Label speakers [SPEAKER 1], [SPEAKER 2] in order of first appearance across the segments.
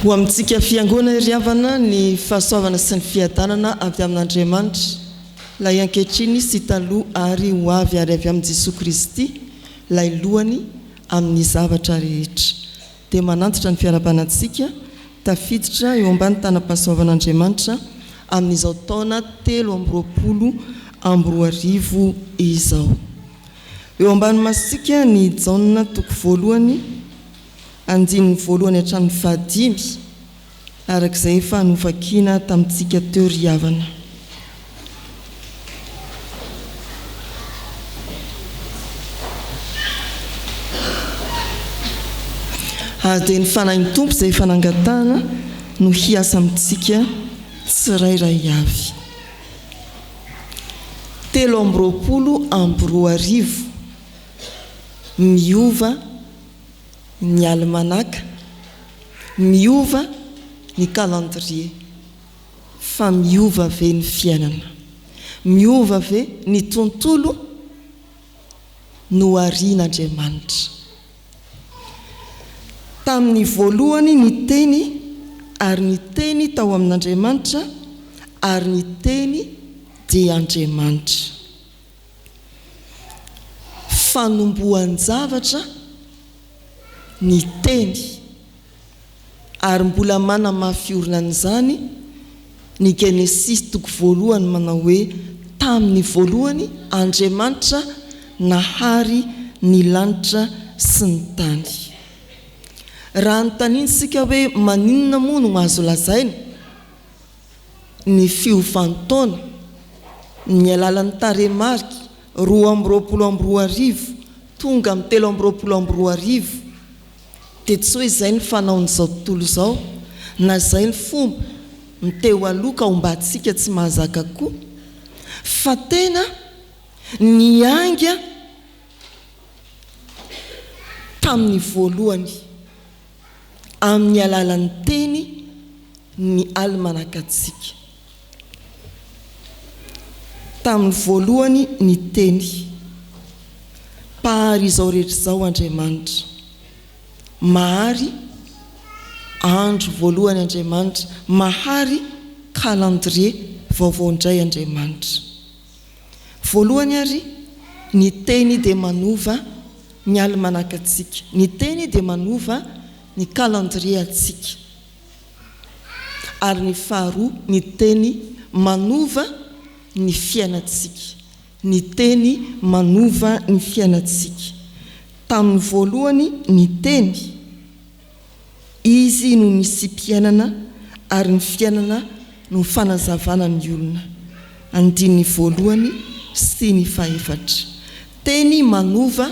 [SPEAKER 1] Ho amintsika Fiangonana iry havana, ny fahasoavana sy ny fiadanana avy amin'Andriamanitra, Ilay ankehitriny sy taloha ary ho avy ary avy amin'i Jesoa Kristy, Ilay Lohany amin'ny zavatra rehetra. Dia manantitra ny fiarahabana antsika tafiditra eo ambany tanam-pahasoavan'Andriamanitra amin'izao taona telo amby roapolo amby roa arivo izao. Eo ambany masontsika ny Jaona toko voalohany andininy voalohany hatramin'ny fahadimy, araka izay efa novakina tamintsika teo ry havana. Ary dia ny Fanahin'ny Tompo izay efa nangatahana no hiasa amintsika tsirairay avy. telo amby roapolo amby roa arivo Miova ny alimanaka, miova ny calendrier, fa miova ve ny fiainana? Miova ve ny tontolo noharian'Andriamanitra? Tamin'ny voalohany ny Teny, ary ny Teny tao amin'Andriamanitra, ary ny Teny dia Andriamanitra. Fanombohan-javatra ny Teny. ary mbola manamafy orina an'izany ny Genesisy toko voalohany manao hoe, Tamin'ny voalohany Andriamanitra nahary ny lanitra sy ny tany. Raha anontaniantsika hoe maninona moa no azo lazaina ny fiovan-taona ny alalan'ny tarehimarika roa amby roapolo amby roa arivo tonga amin'ny telo amby roapolo amby roa arivo, Dia tsy hoe izay ny fanaon'izao tontolo izao, na izay ny fomba ny teo aloha ka ombantsika tsy mahazaka koa, fa tena niainga tamin'ny voalohany, amin'ny alalan'ny teny, ny almanaka-ntsika. Tamin'ny voalohany niteny, Mpahary izao rehetra izao Andriamanitra. Mahary andro voalohany Andriamanitra, mahary calendrier vaovao indray Andriamanitra. Voalohany ary, ny Teny dia manova ny alimanaka antsika, ny Teny dia manova ny calendrier antsika. ary ny faharoa ny teny manova ny fiainantsika, ny teny manova ny fiainantsika. Tamin'ny voalohany ny teny, izy no nisiam-piainana ary ny fiainana no fanazavana ny olona, andininy voalohany sy ny fahefatra. Teny manova.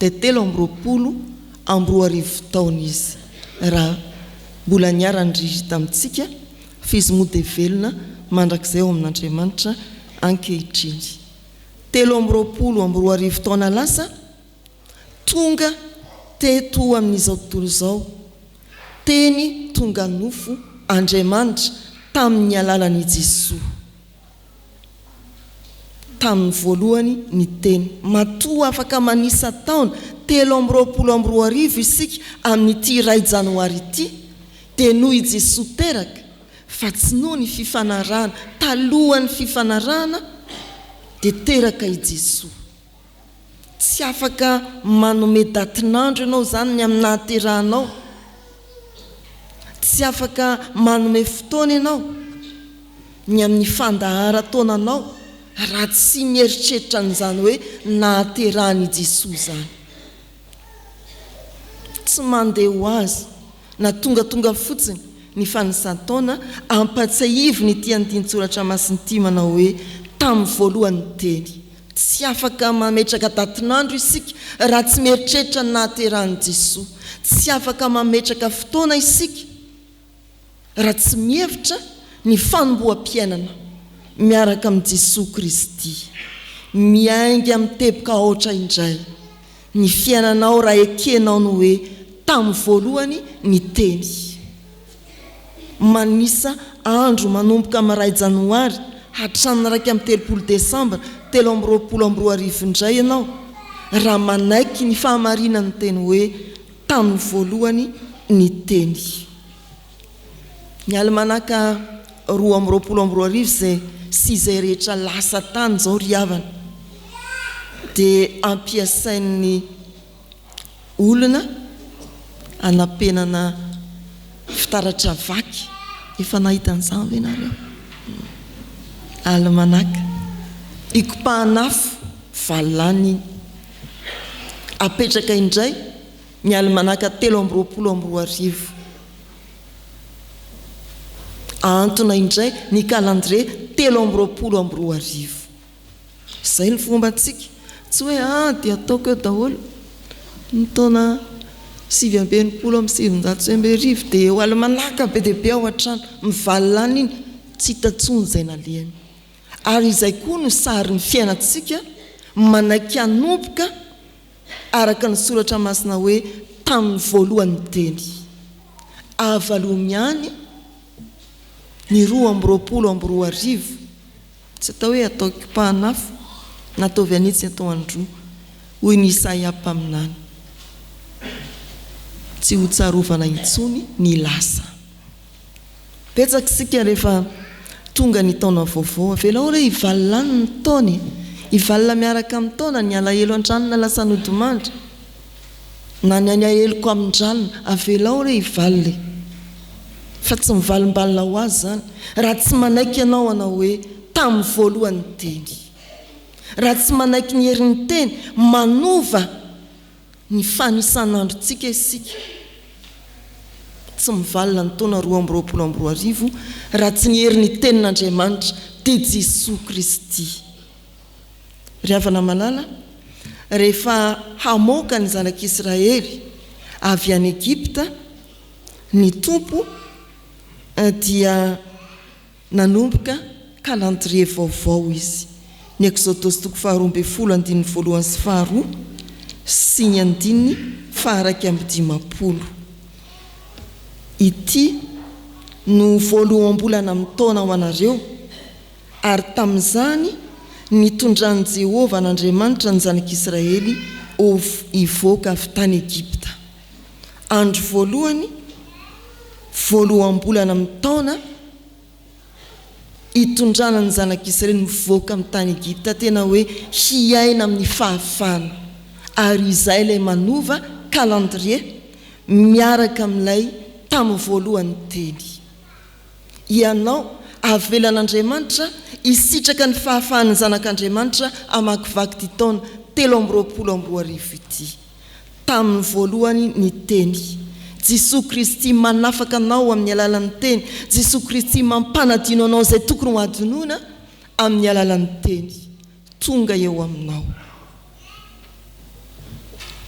[SPEAKER 1] dia telo amby roapolo amby roa arivo taona izy raha mbola niara-niry tamintsika, fa izy moa dia velona mandrakizay ao amin'Andriamanitra ankehitriny. Telo amby roapolo amby roa arivo taona lasa, tonga teto amin'izao tontolo izao, Teny tonga nofo, Andriamanitra, tamin'ny alalan'i Jesoa. tamin'ny voalohany ny teny. Matoa afaka manisa taona telo amby roapolo amby roa arivo isika amin'ity iray janoary ity, dia noho i Jesoa teraka, fa tsy noho ny fifanarahana, talohan'ny fifanarahana dia teraka i Jesoa. Tsy afaka manome datin'andro ianao izany ny amin'ny nahaterahanao. Tsy afaka manome fotoana ianao ny amin'ny fandaharan-taonanao raha tsy mieritreritra an'izany hoe nahaterahan'i Jesoa izany. Tsy mandeha ho azy na tongatonga fotsiny ny fanisan-taona ampatsiahivina ity andinin-tsoratra masina ity manao hoe, Tamin'ny voalohany teny. Tsy afaka mametraka datin'andro isika raha tsy mieritreritra ny nahaterahan'i Jesoa. Tsy afaka mametraka fotoana isika raha tsy mihevitra ny fanomboham-piainana miaraka amin'i Jesoa Kristy. Miainga amin'ny teboka aotra indray. Ny fiainanao raha ekenao ny hoe tamin'ny voalohany ny teny. Manisa andro manomboka amin'ny iray janoary hatramin'ny iraika amby telopolo desambra telo amby roapolo amby roa arivo indray ianao raha manaiky ny fahamarinan'ny teny hoe tamin'ny voalohany ny teny. Ny alimanaka roa amby roapolo amby roa arivo izay sy izay rehetra lasa tany izao ry havana dia ampiasain'ny olona hanampenana fitaratra vaky. Efa nahita an'izany ve ianareo? Alimanaka ikopahan'afo valo lany iny, apetraka indray. Ny Alimanaka telo amby roapolo amby roa arivo. Ahantona indray ny kalandrie telo amby roapolo amby roa arivo. Izay ny fombantsika. Tsy hoe ah dia ataoko eo daholo ny taona sivy amby enimpolo amby sivinjato sy enina arivo dia eo Alimanaka be dia be ao an-trano. Mivalona any iny, tsy hita intsony izay nalehany. Ary izay koa no sarin'ny fiainantsika manaiky hanomboka. araka ny Soratra Masina hoe tamin'ny voalohany teny. Avalony ihany ny roa amby roapolo amby roa arivo. Tsy atao hoe atao kipahan'afo na ataovy an'itsy atao an'roa, hoy ny Isaia mpaminany. Tsy hotsarovana intsony ny lasa. Betsaka isika rehefa tonga ny taona vaovao. Avelao re hivalona any ny taona e! Hivalona miaraka amin'ny taona ny alahelo an-trano na lasa nodimandry na ny aniaheloko amin-dralina. Avelao re hivalona e! Fa tsy mivalimbalina ho azy izany raha tsy manaiky ianao hanao hoe tamin'ny voalohany ny teny. Raha tsy manaiky ny herin'ny teny manova Ny fanisan'androntsika isika tsy mivalona ny taona roa amby roapolo amby roa arivo raha tsy ny herin'ny Tenin'Andriamanitra dia Jesoa Kristy. Ry havana malala, rehefa hamoaka ny zanak'Israely avy any Egypta ny Tompo dia. Nanomboka calendrier vaovao izy, ny Exodosy toko faharoa ambin'ny folo andininy voalohany sy faharoa sy ny andininy faharaika amby dimampolo. Ity no voaloham-bolana amin'ny taona ho anareo, ary tamin'izany nitondran'i Jehovah an'Andriamanitra ny zanak'Israely ho hivoaka avy tany Egypta. Andro voalohany, voaloham-bolana amin'ny taona itondrana ny Zanak'i Israely mivoaka amin'ny tany Egypta, tena hoe hiaina amin'ny fahafahana. Ary izay ilay manova calendrier miaraka amin'ilay tamin'ny voalohany teny. Ianao, avelan'Andriamanitra hisitraka ny fahafahan'ny zanak'Andriamanitra hamakivaky ity taona telo amby roapolo amby roa arivo ity. Tamin'ny voalohany ny Teny. Jesoa Kristy manafaka anao amin'ny alalan'ny Teny. Jesoa Kristy mampanadino anao izay tokony ho adinoina amin'ny alalan'ny Teny. Tonga eo aminao.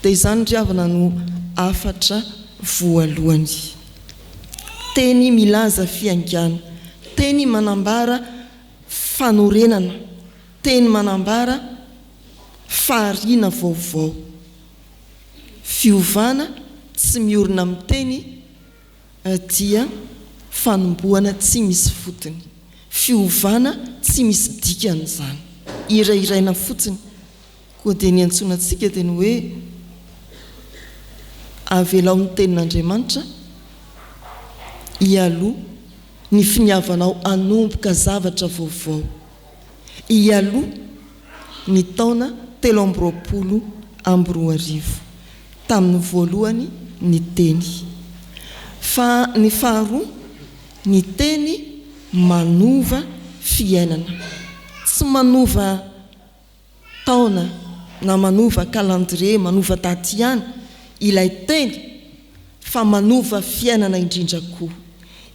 [SPEAKER 1] Dia izany ry havana no hafatra voalohany. Teny milaza fihaingana. Teny manambara fanorenana. Teny manambara Fahariana vaovao. Fiovana tsy miorina amin'ny teny dia fanombohana tsy misy fotony. Fiovana tsy misy dikany izany. Hirahiraina fotsiny. Koa dia ny iantsoana antsika dia ny hoe avelao ny tenin'Andriamanitra hialoha ny finiavanao hanomboka zavatra vaovao. Hialoha. ny taona telo amby roapolo amby roa arivo tamin'ny voalohany ny teny fa ny faharoa ny teny manova fiainana tsy manova taona na manova calendrier manova daty ihany ilay teny fa manova fiainana indrindra koa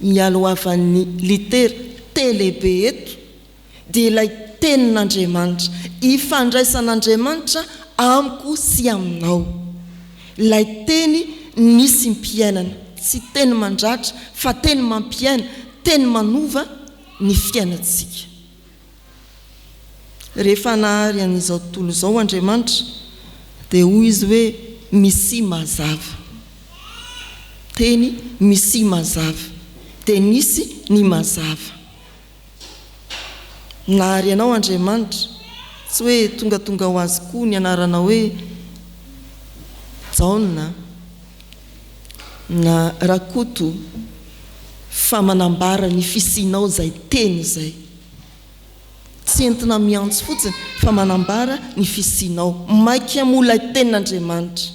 [SPEAKER 1] Nialohavan'ny litera T lehibe eto dia ilay Tenin'Andriamanitra, ifandraisan'Andriamanitra amiko sy aminao. Ilay Teny nisy mpiainana, tsy teny mandratra fa teny mampiaina, teny manova ny fiainantsika. Rehefa nahary an'izao tontolo izao Andriamanitra, dia hoy Izy hoe, Misia mazava. Teny, Misia mazava. Dia nisy ny mazava. Nahary anao Andriamanitra. Tsy hoe tongatonga ho azy koa ny anaranao hoe Jaona. Na Rakoto fa manambara ny fisianao izay teny izay. Tsy entina miantso fotsiny fa manambara ny fisianao. Maika moa ilay Tenin'Andriamanitra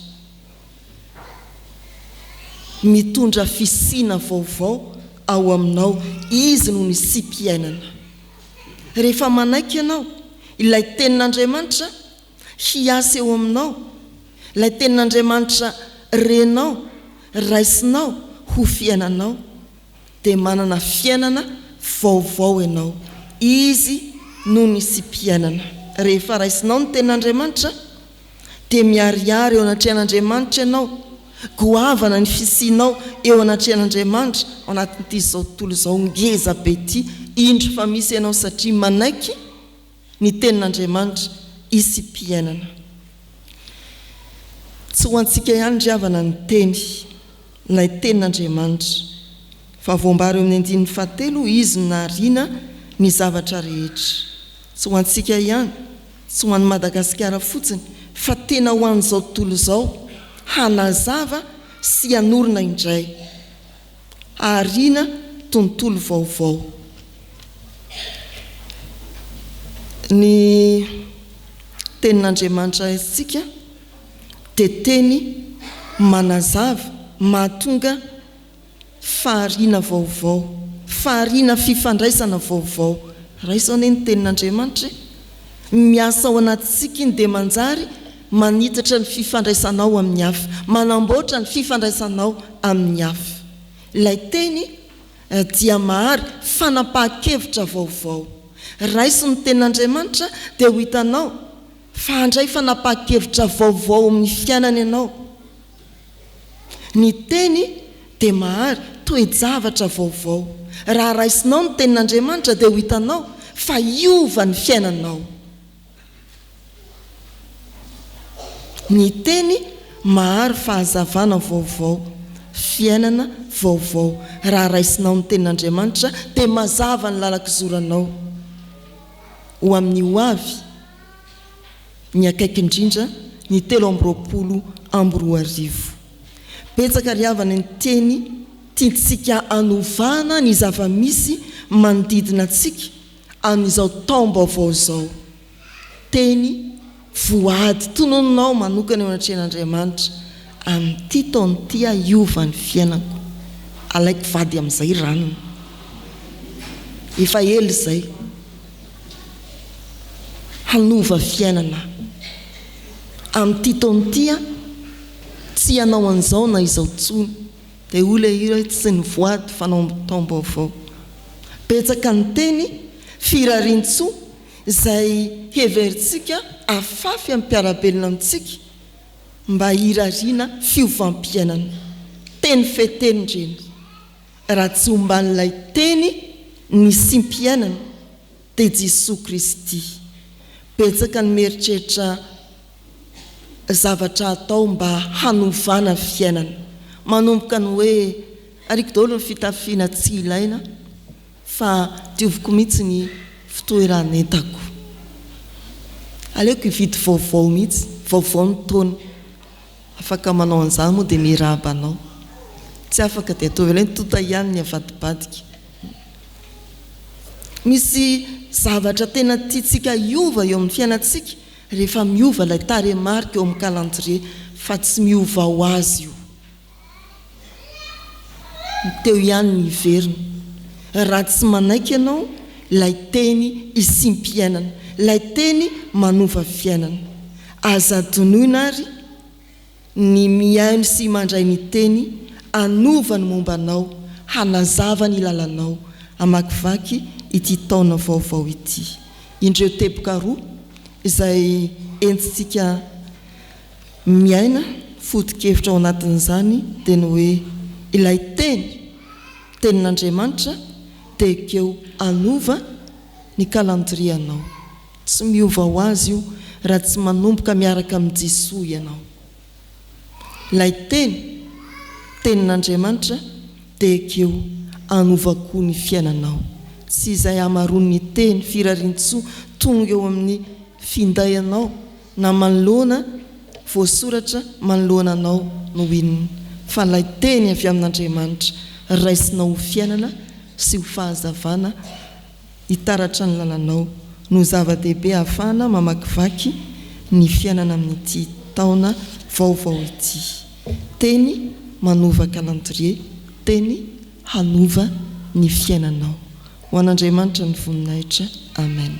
[SPEAKER 1] mitondra fisiana vaovao ao aminao. Izy no nisiam-piainana. Rehefa manaiky ianao ilay Tenin'Andriamanitra, hiasa eo aminao, ilay Tenin'Andriamanitra renao, raisinao ho fiainanao, dia manana fiainana vaovao ianao. Izy no nisiam-piainana. Rehefa raisinao ny Tenin'Andriamanitra, dia miharihary eo anatrehan'Andriamanitra ianao, goavana ny fisianao eo anatrehan'Andriamanitra ao anatin'ity izao tontolo izao ngeza be ity, indro fa misy ianao satria manaiky, ny Tenin'Andriamanitra isim-piainana. Tsy ho antsika ihany ry havana ny Teny, ilay Tenin'Andriamanitra, fa voambara eo amin'ny andininy fahatelo ho Izy no nahariana ny zavatra rehetra. Tsy ho antsika ihany, tsy ho an'i Madagasikara fotsiny, fa tena ho an'izao tontolo izao, hanazava sy hanorina indray. aoriana tontolo vaovao. Ny Tenin'Andriamanitra antsika dia teny manazava, mahatonga fahariana vaovao, fahariana fifandraisana vaovao. Raiso anie ny Tenin'Andriamanitra e! Miasa ao anatintsika Iny dia manjary. Manitatra ny fifandraisanao amin'ny hafa. Manamboatra ny fifandraisanao amin'ny hafa. Ilay teny dia mahary fanapahan-kevitra vaovao. Raiso ny Tenin'Andriamanitra dia ho hitanao fa handray fanapahan-kevitra vaovao amin'ny fiainana ianao. Ny teny dia mahary toe-javatra vaovao. Raha raisinao ny Tenin'Andriamanitra dia ho hitanao fa hiova ny fiainanao. Ny teny mahary fahazavana vaovao, fiainana vaovao. Raha raisinao ny Tenin'Andriamanitra, dia mazava ny lalan-kizoranao ho amin'ny ho avy, ny akaiky indrindra, ny telo amby roapolo amby roa arivo. Betsaka ry havana ny teny tiantsika hanovana ny zava-misy manodidina antsika. Amin'izao taom-baovao izao, teny voady tononinao manokana eo anatrehan'Andriamanitra, Amin'ity taona ity aho hiova ny fiainako, alaiko vady amin'izay ranona. Efa ela izay, hanova fiainana aho. Amin'ity taona ity aho tsy hanao an'izao na izao intsony. dia hoy ilay hira hoe tsy ny voady fanao amin'ny taom-baovao. Betsaka ny teny firarian-tsoa izay heverintsika afafy amin'ny mpiara-belona amintsika mba hirariana fiovam-piainana. Teny feteny ireny. Raha tsy omban'ilay Teny nisiam-piainana dia Jesoa Kristy. Betsaka ny mieritreritra zavatra hatao mba hanovana ny fiainana, manomboka ny hoe ariako daholo ny fitafiana tsy ilaina fa dioviko mihitsy ny fitoeran'entako, aleoko hividy vaovao mihitsy, vaovao ny taona, afaka manao an'izany moa dia mirahaba anao, tsy afaka dia ataovy aloha ny tonta ihany ny avadibadika. Misy zavatra tena tiantsika hiova eo amin'ny fiainantsika Rehefa miova ilay tarehimarika eo amin'ny calendrier fa tsy miova ho azy io. Ny teo ihany ny hiverina. Raha tsy manaiky ianao ilay teny isiam-piainana, ilay teny manova fiainana. Aza adinoina ary. ny mihaino sy mandray ny teny hanova ny momba anao, hanazava ny lalanao, hamakivaky ity taona vaovao ity. Indreo teboka roa izay entintsika miaina foto-kevitra ao anatin'izany dia ny hoe ilay teny, tenin'Andriamanitra dia ekeo hanova ny kalandrianao. Tsy miova ho azy io raha tsy manomboka miaraka amin'i Jesoa ianao. Ilay Teny, Tenin'Andriamanitra, dia ekeo hanova koa ny fiainanao. Tsy izay hamaroan'ny teny firarian-tsoa tonga eo amin'ny finday anao na manoloana voasoratra manoloana anao no inona, fa ilay Teny avy amin'Andriamanitra raisinao ho fiainana sy ho fahazavana Hitaratra ny lalanao no zava-dehibe ahafahana mamakivaky ny fiainana amin'ity taona vaovao ity. Teny manova kalandrie, teny hanova ny fiainanao. Ho an'Andriamanitra ny voninahitra. Amen.